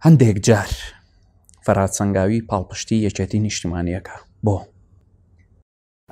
هەندێک جار فەرات سەنگاوی پاڵپشتی یەکێتی نیشتیمانیەکە بۆ؟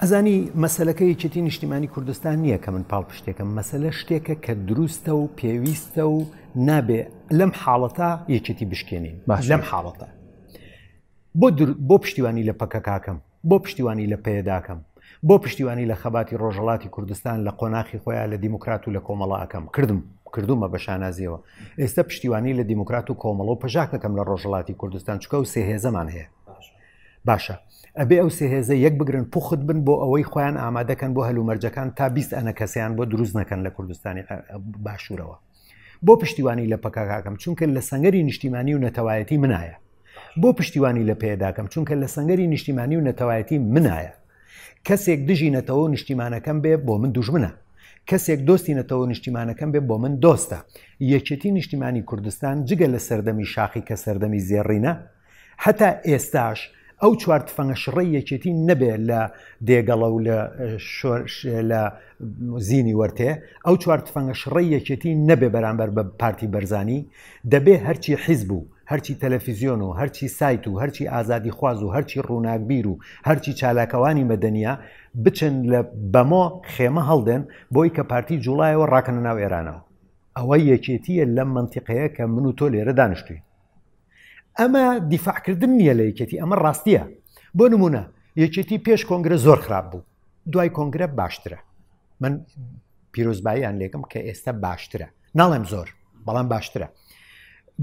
ئەزانی مەسلەکە یەکێتی نیشتیمانی کوردستان نییە کە من پاڵپشتێکم مەسلە شتێکە کە دروستە و پێویستە و نابێ لەم حاڵەتە یەکێتی بشکێنین لەم حاڵەتە بۆ بۆ پشتیوانی لە پەکەکەکەم بۆ پشتیوانی لە پەیەدە ئەکەم؟ بۆ پشتیوانی لە خەباتی ڕۆژهەڵاتی کوردستان لە قۆناخی خۆیان لە دیموکرات و لە کۆمەڵە ئەکەم؟ کردم، کردوومە بە شانازییەوە. ئێستە پشتیوانی لە دیموکرات و کۆمەڵە و پەژاک ئەکەم لە ڕۆژهەڵاتی کوردستان، چونکە ئەو سێ هێزەمان هەیە. باشە، ئەبێ ئەو سێ هێزە یەک بگرن، پوخت بن بۆ ئەوەی خۆیان ئامادە کەن بۆ هەلومەرجەکان تا بیست ئەنەکەسەیان بۆ دروست نەکەن لە کوردستانی باشوورەوە. بۆ پشتیوانی لە پەکەکەکەم چونکە لە سەنگەری نیشتیمانی و نەتەوایەتی منایە بۆ پشتیوانی لە پێداکەم چونکە لە سەنگەری نیشتیمانی و نەتەوایەتی منایە کەسێک دژی نەتەوە نیشتیمانەکەم بێ بۆ من دوژمنە کەسێک دۆستی نەتەوە نیشتیمانەکەم بێ بۆ من دۆستە یەکێتی نیشتیمانی کوردستان جگە لە سەردەمی شاخی کە سەردەمی زێڕینە هەتا ئێستاش ئەو چوار تفەنگە شڕەی یەکێتی نەبێ لە دێگەڵە و لە لە زینی وەرتێ ئەو چوار تفەنگە شڕەی یەکێتی نەبێ بەرامبەر بە پارتی بەرزانی دەبێ هەرچی حیزب و هەرچی تەلەفیزیۆن و هەرچی سایت و هەرچی ئازادی خواز و هەرچی ڕووناکبیر و هەرچی چالاکەوانی مەدەنیا بچن لە بەمۆ خێمە هەڵدێن بۆی کە پارتی جوڵایەوە ڕاکەنە ناو ئێرانەوە ئەوە یەکێتیە لەم منتیقەیە کە من و تۆ لێرە دانیشتوین ئەمە دیفاعکردن نییە لە یەکێتی ئەمە ڕاستیە بۆ نمونە یەکێتی پێش کۆنگرە زۆر خراپ بوو دوای کۆنگرە باشترە من پیرۆزباییان لێکم کە ئێستا باشترە ناڵێم زۆر بەڵام باشترە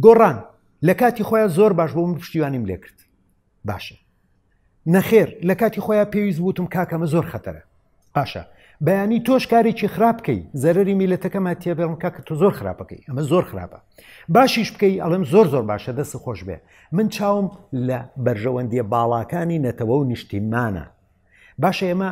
گۆڕان لە کاتی خۆیان زۆر باش بوو من پشتیوانیم لێکرد باشە نەخێر لە کاتی خۆیان پێویست وتم کاکەمە زۆر خەتەرە باشە بەیانی تۆش کارێکی خراپ بکەی زەرری میلەتەکەما تێبێڵم کاک تۆ زۆر خراپەکەی ئەمە زۆر خراپە باشیش بکەی ئەڵم زۆر زۆر باشە دەست خۆش بێ من چاوم لە بەرژەوەندیە باڵاکانی نەتەوە و نیشتیمانە باشە ئێمە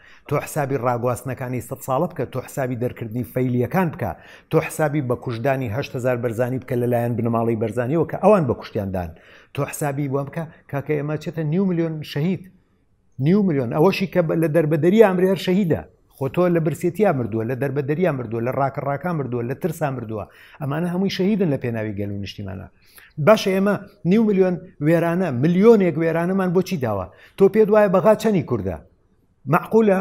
تۆ حسابی ڕاگواستنەکانی سەد ساڵە بکە، تۆ حسابی دەرکردنی فەیلییەکان بکە، تۆ حسابی بە کوشتدانی هەشت هەزار بەرزانی بکە لەلایەن بنەماڵەی بەرزانیەوە کە ئەوان بە کوشتیان دان، تۆ حسابی وە بکە کاکە ئێمە چەتە نیو ملیۆن شەهید نیو ملیۆن ئەوەشی کە لە دەربەدەری ئامرێر شەهیدە خۆ تۆ لە برسێتیا مردووە لە دەربە دەریا مردووە لە ڕاکە ڕاکان مردووە لە ترسا مردووە ئەمانە هەمووی شەهیدن لە پێناوی گەل و نیشتیمانە باشە ئێمە نیو ملیۆن وێرانە ملیۆنێک وێرانەمان بۆچی داوە تۆ پێت وایە بەغا چەنی کووردە مەعقولە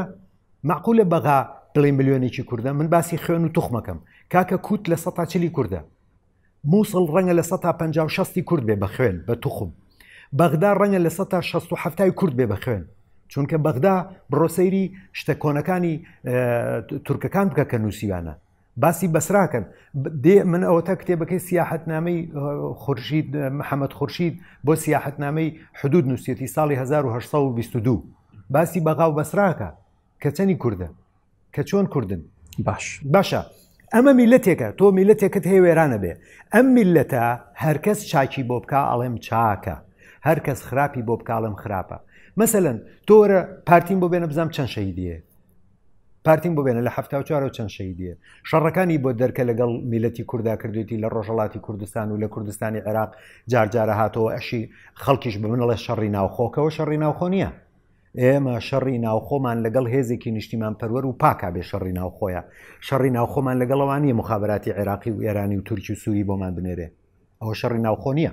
مەعقولە بەغا دڵی ملیۆنێکی کوردە من باسی خوێن و توخمەکەم کاکە کووت لە سە چلی کوردە مووسڵ ڕەنگە لە سە پ شستی کورد بێ بە خوێن بە توخم بەغدا ڕەنگە لە سە تا 16 کورد بێ بە خوێن چونکە بەغدا بڕۆسەیری شتە کۆنەکانی تورکەکان بکە کە نووسیوانە باسی بەسراکەن دێ من ئەوەتا کتێبەکەی سیاحەتنامەی خورشید محەممەد خورشید بۆ سیاحەتنامەی حدود نووسەتی ساڵی 1922 باسی بەغااو بەسراکە کە چەنی کووردە کە چۆن کوردن باش باشە ئەمە میلەتێکە تۆ میلەتێکت هەیە وێرانە بێ ئەم میلەتە هەرکەس چاکی بۆ بک ئەڵێم چاکە هەرکەس خراپی بۆ بکڵم خراپە مەسەن تۆرە پارتیم بۆ بێنە بزانام چەند شەیدیە پارتیم بۆ بێنە لە هەفتا و چوارەوە چەند شەیدیە شەڕەکانی بۆ دەرکە لەگەڵ میلەتی کوردا کردوێتی لە ڕۆژەڵاتی کوردستان و لە کوردستانی عێراق جارجارە هاتەوە ئەشی خەڵکیش بە منڵێ شەڕی ناوخۆکەوە شەڕی ناوخۆ نییە ئێمە شەڕی ناوخۆمان لەگەڵ هێزێکی نیشتیمان پەروەر و پاکا بێ شەڕی ناوخۆیە شەڕی ناوخۆمان لەگەڵەوانی مخابراتی عێراقی و ئێرانی و تورکی و سووری بۆمان بنێرێ ئەوە شەڕی ناوخۆ نییە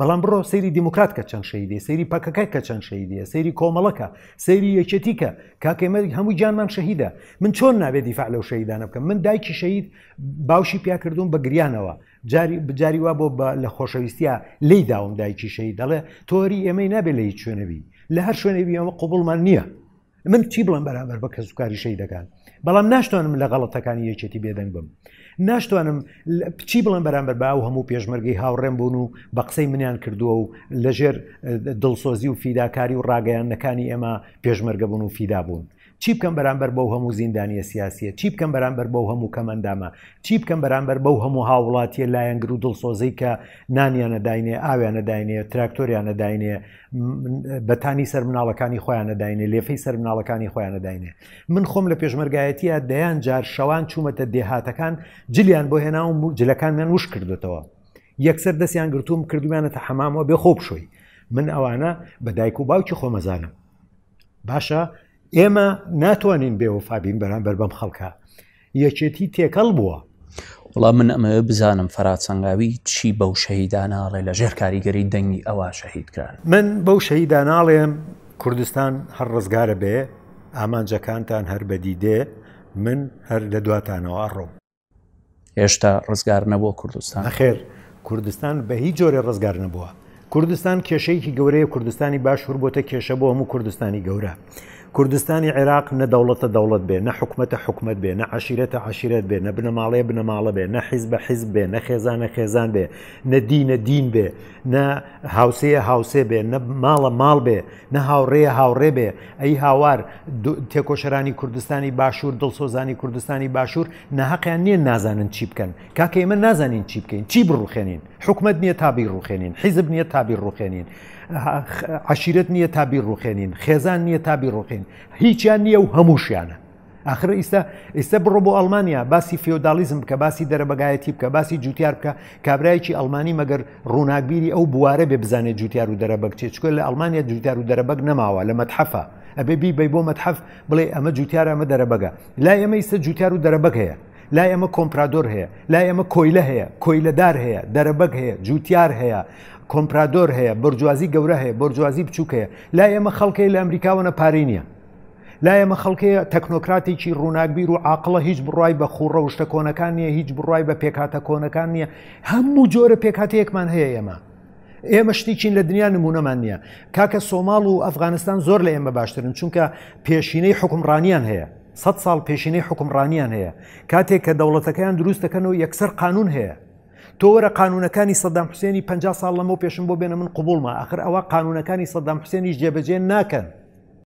بەڵام بڕۆ سەیری دیموکرات کە چەند شەیدێ سەیری پەکەکە کە چەند شەیدێ سەیری کۆمەڵەکە سەیری یەکێتیکە کاکەمەری هەموو جانمان شەهیدە من چۆن نابێت دیفاع لەو شەیدانە بکەم من دایکی شەید باوشی پیاکردوون بە گریانەوە جاری بجاری وا بۆ لە خۆشەویستە لی داوم دایکی شەید دەڵێ تۆری ئێمەی نابێت لە هیچ شوێنەبی لە هەر شوێنەبی ئەمە قوبڵمان نییە من چی بڵم بەرامبەر بە کەسوکاری شەیدەکان بەڵام ناشتوانم لە غەڵەتەکانی یەکێتی بێدەنگ بم ناشتوانم چی بڵم بەرامبەر با و هەموو پێشمەرگەی هاوڕێم بوون و بە قسەی منیان کردووە و لەژێر دڵسۆزی و فیداکاری و ڕاگەیانەکانی ئێمە پێشمەرگە بوون و فیدا بوون چی بکەم بەرامبەر بەو هەموو زیندانیە سیاسیە چی بکەم بەرامبەر بەو هەموو کەمەندامە چی بکەم بەرامبەر بەو هەموو هاوڵاتیە لایەنگر و دڵسۆزەی کە نانیانە داینێ ئاویانە داینێ تراکتۆریانە داینێ بەتانی سەر مناڵەکانی خۆیان نەداینێ لێفەی سەر مناڵەکانی خۆیان نەداینێ من خۆم لە پێشمەرگایەتیە دەیان جار شەوان چوومەتە دێهاتەکان جلیان بۆ هێناوم و جلەکانمیان وش کردێتەوە یەکسەر دەستیان گرتووم کردویانەتە حەمامەوە بێ خۆ بشۆی من ئەوانە بە دایک و باوکی خۆمەزانم باشە ئێمە ناتوانین بێوەفابین بەرامبەر بەم خەڵکە یەکێتی تێکەڵ بووە وڵام من ئەمەوێ بزانم فەراتسەنگاوی چی بەو شەهیدانناڵێ لە ژێر کاریگەری دەنگی ئەوە شەهیدکران من بەو شەهیدانناڵێم کوردستان هەر ڕزگارە بێ ئامانجەکانتان هەر بەدی دێ من هەر لە دواتانەوە ئەڕۆم هێشتا ڕزگار نەبووە کوردستان خێر کوردستان بە هیچ جۆرە ڕزگار نەبووە کوردستان کێشەیەکی گەورەیە کوردستانی باشور بۆتە کێشە بۆ هەموو کوردستانی گەورە کوردستانی عێراق نە دەوڵەتە دەوڵەت بێ نە حکومەتە حکومت بێ نە عشیرەتە عشیرەت بێ نە بنەماڵەیە بنەماڵە بێ نە حیز بە حیز بێ نە خێزانە خێزان بێ نە دینە دین بێ نە هاوسەیە هاوسێ بێ نە ماڵە ماڵ بێ نە هاوڕێە هاوڕێ بێ ئەی هاوار تێکۆشەرانی کوردستانی باشوور دڵسۆزانی کوردستانی باشوور نەهقیان نییە نازانن چی بکەن کاکە ئێمە نازانین چی بکەین چی بڕوخێنین حکومەت نییە تا بیڕوخێنین، حیزب نییە تا بیڕوخێنین، عشیرەت نییە تا بیڕوخێنین، خێزان نییە تا بیڕوخین، هیچیان نییە و هەمووشیانە. ئاخر ئیستا ئیستا بڕۆ بۆ ئەڵمانیا باسی فیۆدالیزم بکە باسی دەرەبگایەتی بکە باسی جوتیار بکە کابراایکی ئەلمانی مەگەر ڕووناکبیری ئەو بوارە بێ بزانێت جوتیار و دەرەبەگ چێ چکە لە ئەلمانیا جوتیار و دەرەبەگ نەماوە لە مەتحەفە ئەبێ بی بی بۆ مەتحەف بڵێ ئەمە جوتیار ئەمە دەرەبەگە لای ئەمە ئیستا جوتیار و دەرەبەگ هەیە لای ئێمە کۆمپرادۆر هەیە، لای ئێمە کۆیلە هەیە، کۆیلەدار هەیە، دەرەبەگ هەیە، جووتیار هەیە، کۆمپرادۆر هەیە، بۆرجوازی گەورە هەیە، بۆرجوازی بچووک هەیە، لای ئێمە خەڵکەیە لە ئەمریکاوەنە پارەی نییە. لا ئێمە خەڵکەیە تەکنۆکراتێکی ڕووناکبیر و عاقڵە هیچ بڕای بە خوڕە و شتە کۆنەکان نییە هیچ بڕای بە پێکاتە کۆنەکان نییە هەموو جۆرە پێکاتەیەکمان هەیە ئێمە ئێمە شتیچین لە دنیا نمونەمان نییە کاکە سۆماڵ و ئەفغانستان زۆر لە ئێمە باشترن چونکە پێشینەی حکومڕانیان هەیە سەد ساڵ پێشینەی حوکمڕانیان هەیە، کاتێک کە دەوڵەتەکەیان دروست دەکەن و یەکسەر قانون هەیە. تۆ وەرە قانونەکانی سەدام حوسێنی پەنجا ساڵ لەمەو پێشم بۆ بێنە من قبوڵمە، ئاخر ئەوە قانونەکانی سەدام حوسێنیش جێبەجێ ناکەن.